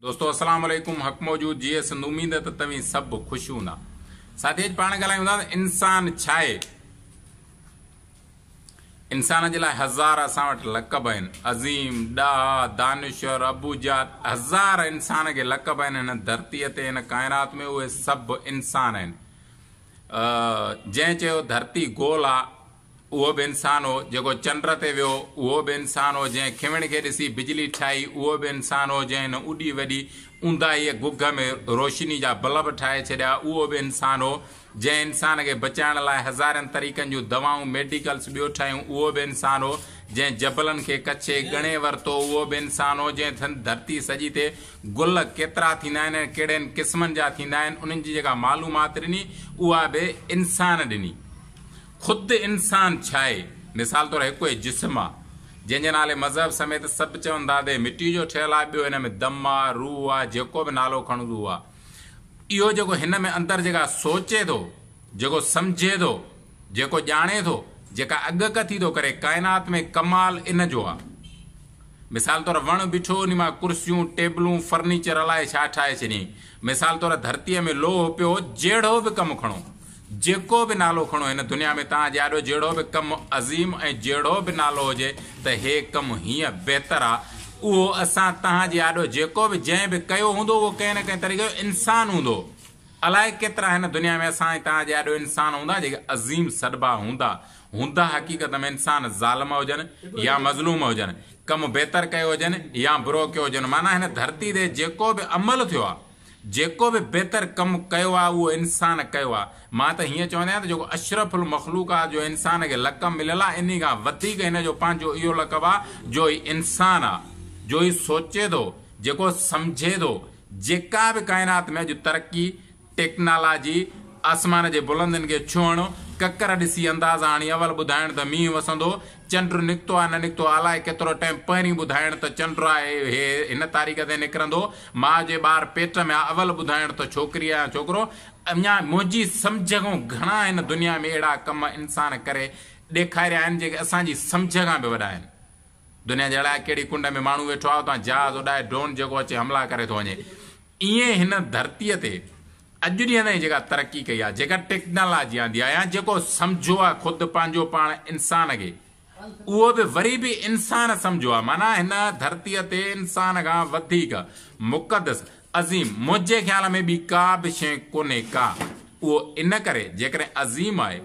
دوستو السلام عليڪم حق موجود جيئي سنڌ اميد ته توهين سڀ خوش هوندا ساٿي اڄ پاڻ ڳالهايون ٿا ته انسان ڇا آهي انسان جي لاء هزار اسان وٽ لقب آهن عظيم ڏاها دانشور ابو جات هزار انسان کي لقب آهن هن ڌرتي تي هن ڪائنات ۾ اهي سڀ انسان آهن جنهن چيو ڌرتي گول آ اهو به انسان هو، جيڪو چنڊ تي ويو، اهو به انسان هو، جنهن کيوڻ کي ڏسي بجلي ٺاهي، اهو به انسان هو، جنهن هن اڏي وڏي اونداهيء گگهه ۾ روشني جا بلب ٺاهي ڇڏيا، اهو به انسان هو، جنهن انسان کي بچائڻ لاء هزارين طريقن جون دوائون، ميڊيڪلز، ٻيو ٺاهيون، اهو به انسان هو، جنهن جبلن کي ڪڇي، ڳڻي، ورتو، اهو به انسان هو، جنهن ٿن ڌرتي سڄي تي گل ڪيترا ٿيندا آهن ۽ ڪهڙين قسمن جا ٿيندا آهن، انهن جي جيڪا معلومات ڏني، اها به انسان ڏني. خود انسان ڇاهي؟ مثال طور هڪ اهي جسم آ، جنهن جي نالي مذهب سميت سڀ چون ٿا ته هي مٽي جو ٺهيل آ، ٻيو هن ۾ دم آ، روح آ، جيڪو به نالو کڻجو اهو آ. اهو جيڪو هن ۾ اندر جيڪا سوچي ٿو، جيڪو سمجهي ٿو، جيڪو ڄاڻي ٿو، جيڪا اڳڪٿي ٿو ڪري، ڪائنات ۾ ڪمال ان جو آ. مثال طور وڻ بيٺو انهي مان ڪرسيون، ٽيبلون، فرنيچر الائي ڇا ٺاهي ڇڏيائين. مثال طور ڌرتيء ۾ لوهه پيو هو، جهڙو به ڪم کڻو، جيڪو به نالو کڻو هن دنيا ۾ توهان جي آڏو جهڙو به ڪم عظيم ۽ جهڙو به نالو هجي ته هي ڪم هيئن بهتر آ اهو اسان توهان جي آڏو جيڪو به جنهن به ڪيو هوندو اهو ڪنهن نه ڪنهن طريقي جو انسان هوندو الائي ڪيترا هن دنيا ۾ اسان ۽ توهان جي آڏو انسان هوندا جيڪي عظيم سڏبا هوندا هوندا حقيقت ۾ انسان ظالم هجن يا مظلوم هجن ڪم بهتر ڪيو هجن يا برو ڪيو هجن معنيٰ هن ڌرتي تي جيڪو به عمل ٿيو آ جيڪو به بهتر ڪم ڪيو آهي اهو انسان ڪيو آهي. مان ته هيئن چوندي آهيان ته جيڪو اشرف المخلوق آهي جو انسان کي لقب مليل آهي انهي کان وڌيڪ هن جو پنهنجو اهو لقب آهي جو هي انسان آهي جو هي سوچي ٿو جيڪو سمجهي ٿو جيڪا به ڪائنات ۾ اڄ ترقي، ٽيڪنالاجي، آسمان جي بلندين کي ڇهڻ، ڪڪر ڏسي اندازا هڻي اول ٻڌائڻ ته مينهن وسندو چنڊ نڪتو آ نه نڪتو آ الائي ڪيترو ٽيم پهرين ٻڌائڻ ته چنڊ آ هي هي هن تاريخ تي نڪرندو ماء جي ٻار پيٽ ۾ آ اول ٻڌائڻ ته ڇوڪري آ يا ڇوڪرو اڃا منهنجي سمجهه کان گهڻا هن دنيا ۾ اهڙا ڪم انسان ڪري ڏيکاريا آهن جيڪي اسان جي سمجهه کان به وڏا آهن دنيا جي الائي ڪهڙي ڪنڊ ۾ ماڻهو ويٺو آ اتان جهاز اڏائي ڊرون جيڪو اچي حملا ڪري ٿو وڃي ائين هن ڌرتيء تي اڄ ڏينهن تائين جيڪا ترقي ڪئي آهي، جيڪا ٽيڪنالاجي آندي آهي يا جيڪو سمجهيو آهي خود پنهنجو پاڻ انسان کي، اهو به وري به انسان سمجهيو آهي. معنيٰ هن ڌرتيء تي انسان کان وڌيڪ مقدس، عظيم، منهنجي خيال ۾ ٻي ڪا به شيء ڪونهي ڪا. اهو ان ڪري جيڪڏهن عظيم آهي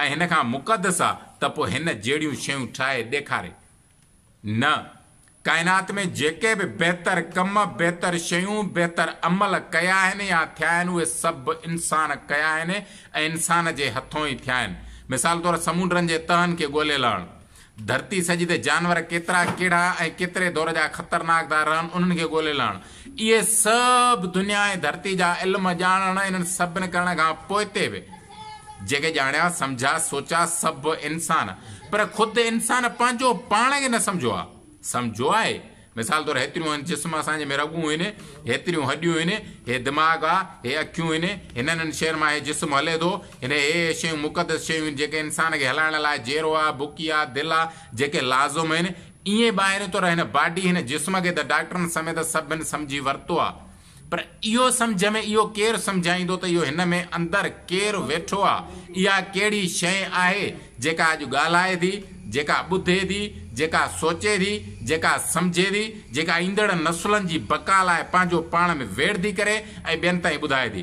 ۽ هن کان مقدس آهي ته پوء هن جهڙيون شيون ٺاهي ڏيکاري نه، ڪائنات ۾ جيڪي به بهتر ڪم، بهتر شيون، بهتر عمل ڪيا آهن يا ٿيا آهن اهي سڀ انسان ڪيا آهن ۽ انسان جي هٿون ئي ٿيا آهن. مثال طور سمونڊرن جي تهن کي ڳولي لهڻ، ڌرتي سڄي تي جانور ڪيترا ڪيڙها ۽ ڪيتري دور جا خطرناڪ ٿا رهن انهن کي ڳولي لهڻ. اهي سڀ دنيا ۽ ڌرتي جا علم ڄاڻڻ انهن سڀن ڪرڻ کان پوئتي به. جيڪي ڄاڻيا، سمجھيا، سوچيا سڀ انسان، پر خود انسان پنهنجو پاڻ کي نه سمجھيو آهي. سمجھيو آهي؟ مثال طور هيتريون هن جسم اسان جي ۾ رڳون آهن، هيتريون هڏيون آهن، هي دماغ آ، هي اکيون آهن، هنن هن شين مان هي جسم هلي ٿو، هن هي هي شيون مقدس شيون آهن جيڪي انسان کي هلائڻ لاء جيرو آ، بڪي آ، دل آ، جيڪي لازم آهن. ايئن ٻاهرين طور هن باڊي، هن جسم کي ته ڊاڪٽرن سميت سڀن سمجھي ورتو آ. پر اهو سمجهه ۾ اهو ڪير سمجهائيندو ته اهو هن ۾ اندر ڪير ويٺو آهي، اها ڪهڙي شيء آهي، جيڪا اڄ ڳالهائي ٿي، جيڪا ٻڌي ٿي، جيڪا سوچي ٿي، جيڪا سمجهي ٿي، جيڪا ايندڙ نسلن جي بقا لاء پنهنجو پاڻ ۾ ويڙهه ٿي ڪري ۽ ٻين تائين ٻڌائي ٿي.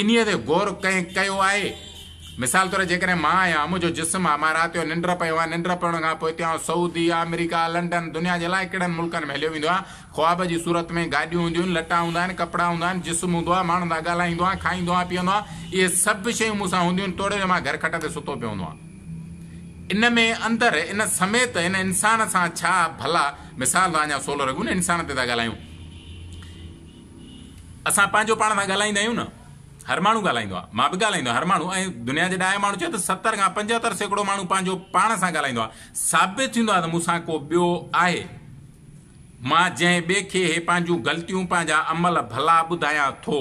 انهيء تي غور ڪنهن ڪيو آهي؟ مثال طور جيڪڏهن مان آهيان، منهنجو جسم آهي، مان رات جو ننڊ پيو آهيان، ننڊ پيڻ کان پوء هتي آئون سعودي، آمريڪا، لنڊن، دنيا جي الائي ڪهڙن ملڪن ۾ هليو ويندو آهيان، خواب جي صورت ۾ گاڏيون هونديون آهن، لٽا هوندا آهن، ڪپڙا هوندا آهن، جسم هوندو آهي، ماڻهن سان ڳالهائيندو آهيان، کائيندو آهيان، پيئندو آهيان، اهي سڀ شيون مون سان هونديون آهن، توڙي جو مان گهر کٽ تي ستو پيو هوندو آهيان. ان ۾ اندر ان سميت ان انسان سان ڇا ڀلا مثال ٿا اڃا سولهه رڳون انسان تي ٿا ڳالهايون. اسان پنهنجو پاڻ سان ڳالهائيندا آهيون نه. هر ماڻهو ڳالهائيندو آهي. مان به ڳالهائيندو آهيان. هر ماڻهو ۽ دنيا جي ڏاهي ماڻهو چئي ته ستر کان پنجهتر سيڪڙو ماڻهو پنهنجو پاڻ سان ڳالهائيندو آهي. ثابت ٿيندو آهي ته مون سان ڪو ٻيو آهي. مان جنهن ٻئي کي هي پنهنجون غلطيون پنهنجا عمل ڀلا ٻڌايان ٿو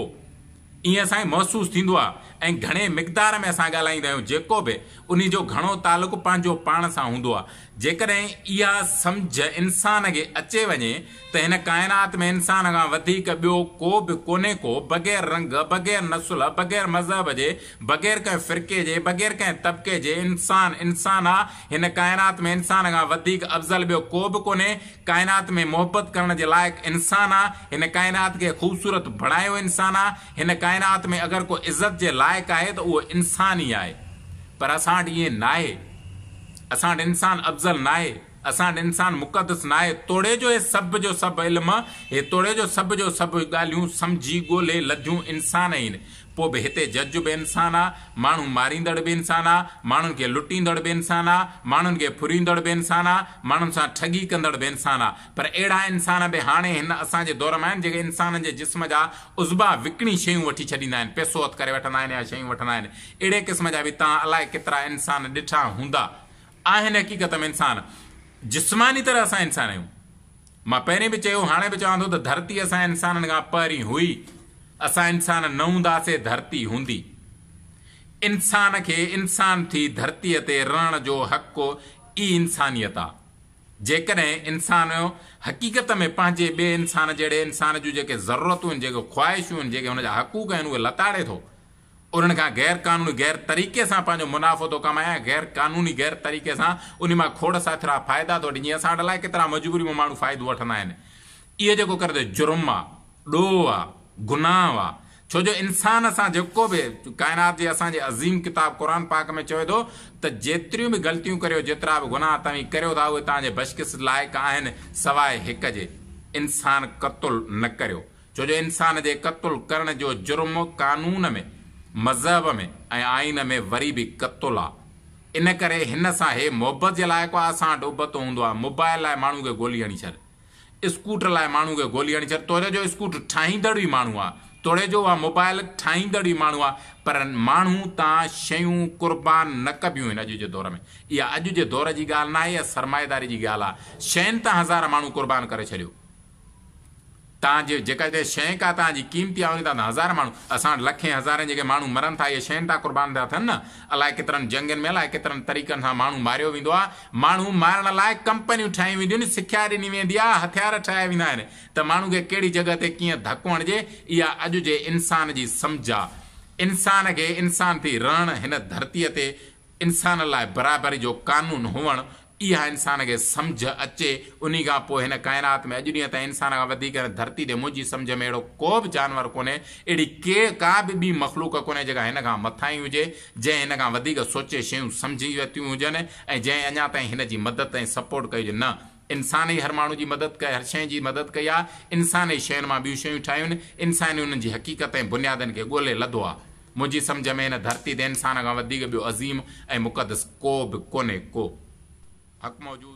ائين اسانکي محسوس ٿيندو آهي ۽ گهڻي مقدار ۾ اسان ڳالهائيندا آهيون جيڪو به انهي جو گهڻو تعلق پنهنجو پاڻ سان هوندو آهي جيڪڏهن اها سمجهه انسان کي اچي وڃي ته هن ڪائنات ۾ انسان کان وڌيڪ ٻيو ڪو به ڪونهي ڪو بغير رنگ بغير نسل بغير مذهب جي بغير ڪنهن فرقي جي، بغير ڪنهن طبقي جي، انسان، انسان آ، هن ڪائنات ۾ انسان کان وڌيڪ افضل ٻيو ڪوبه ڪونهي، ڪائنات ۾ محبت ڪرڻ جي لائق انسان آ، هن ڪائنات کي خوبصورت بڻايو انسان آ، هن ڪائنات ۾ اگر ڪو عزت جي لائق آهي ته اهو انسان ئي آهي، پر اسان وٽ ائين ناهي، اسان وٽ انسان افضل ناهي. اسان وٽ انسان مقدس ناهي، توڙي جو هي سڀ جو سڀ علم، هي توڙي جو سڀ جو سڀ ڳالهيون سمجهي ڳولهي لڌيون انسان ئي آهن. پوء به هتي جج به انسان آ، ماڻهو ماريندڙ به انسان آ، ماڻهن کي لٽيندڙ به انسان آ، ماڻهن کي ڦريندڙ به انسان آ، ماڻهن سان ٺڳي ڪندڙ به انسان آ. پر اهڙا انسان به هاڻي هن اسان جي دور مان آهن، جيڪي انسانن جي جسم جا عضبا وڪڻي شيون وٺي ڇڏيندا آهن، پئسو هٿ ڪري وٺندا آهن يا شيون وٺندا آهن. اهڙي قسم جا به توهان الائي ڪيترا انسان ڏٺا هوندا. آهن حقيقت ۾ انسان جسماني طرح اسان انسان آهيون مان پهرين به چيو هاڻي به چوان ٿو ته ڌرتي اسان انسانن کان پهرين هئي اسان انسان نه هونداسي ڌرتي هوندي انسان کي انسان ٿي ڌرتي تي رهڻ جو حق ئي انسانيت آ جيڪڏهن انسان حقيقت ۾ پنهنجي ٻئي انسان جهڙي انسان جون جيڪي ضرورتون آهن جيڪي خواهشون آهن جيڪي هن جا حقوق آهن اهي لتاڙي ٿو انهن کان غير قانوني غير طريقي سان پنهنجو منافعو ٿو ڪمائين ۽ غير قانوني غير طريقي سان انهي مان کوڙ ساٿرا فائدا ٿو وٺي جيئن اسان وٽ الائي ڪيترا مجبوري مان ماڻهو فائدو وٺندا آهن اهو جيڪو ڪري ٿو جرم آ ڏوهه آ گناهه آ ڇو جو انسان سان جيڪو به ڪائنات جي اسان جي عظيم ڪتاب قرآن پاڪ ۾ چوي ٿو ته جيتريون به غلطيون ڪريو جيترا به گناهه توهين ڪريو ٿا اهي توهان جي بشڪست لائق آهن سواء هڪ جي انسان قتل نه ڪريو ڇو جو انسان جي قتل ڪرڻ جو جرم قانون ۾، مذهب ۾، ۽ آئين ۾ وري به قتل آ. ان ڪري هن سان هي محبت جي لائق آ، اسان وٽ ابتو هوندو آ، موبائل لاء ماڻهو کي گولي هڻي ڇڏ، اسڪوٽر لاء ماڻهو کي گولي هڻي ڇڏ، توڙي جو اسڪوٽر ٺاهيندڙ به ماڻهو آ، توڙي جو اها موبائل ٺاهيندڙ به ماڻهو آ، پر ماڻهو تان شيون قربان نه ڪبيون آهن اڄ جي دور ۾. اها اڄ جي دور جي ڳالهه ناهي، اها سرمائيداري جي ڳالهه آ. شين تان هزار ماڻهو قربان ڪري ڇڏيو. تان جي جيڪا هتي شيء ڪا تان جي قيمتي آهي انهي تان ته هزار ماڻهو اسان وٽ لکين هزارين جيڪي ماڻهو مرن ٿا اهي شين تان قربان ٿا ٿين نه الائي ڪيترن جنگين ۾ الائي ڪيترن طريقن سان ماڻهو ماريو ويندو آهي ماڻهو مارڻ لاء ڪمپنيون ٺاهيون وينديون آهن سکيا ڏني ويندي آهي هٿيار ٺاهيا ويندا آهن ته ماڻهو کي ڪهڙي جڳهه تي ڪيئن ڌڪ هڻجي اها اڄ جي انسان جي سمجهه آهي انسان کي انسان ٿي رهڻ هن ڌرتي تي انسان لاء برابري جو قانون هئڻ اها انسان کي سمجهه اچي، انهي کان پوء هن ڪائنات ۾ اڄ ڏينهن تائين انسان کان وڌيڪ هن ڌرتي تي منهنجي سمجهه ۾ اهڙو ڪو به جانور ڪونهي، اهڙي ڪي ڪا به ٻي مخلوق ڪونهي جيڪا هن کان مٿاهين هجي، جنهن هن کان وڌيڪ سوچي شيون سمجهي ورتيون هجن ۽ جنهن اڃا تائين هن جي مدد ۽ سپورٽ ڪئي هجي، نه انسان ئي هر ماڻهو جي مدد ڪئي، هر شيء جي مدد ڪئي آهي، انسان ئي شين مان ٻيون شيون ٺاهيون، انسان ئي انهن جي حقيقت ۽ بنيادن کي ڳولي لڌو آهي. منهنجي سمجهه ۾ هن ڌرتي تي انسان کان وڌيڪ ٻيو عظيم ۽ مقدس ڪو به ڪونهي ڪو حق موجود.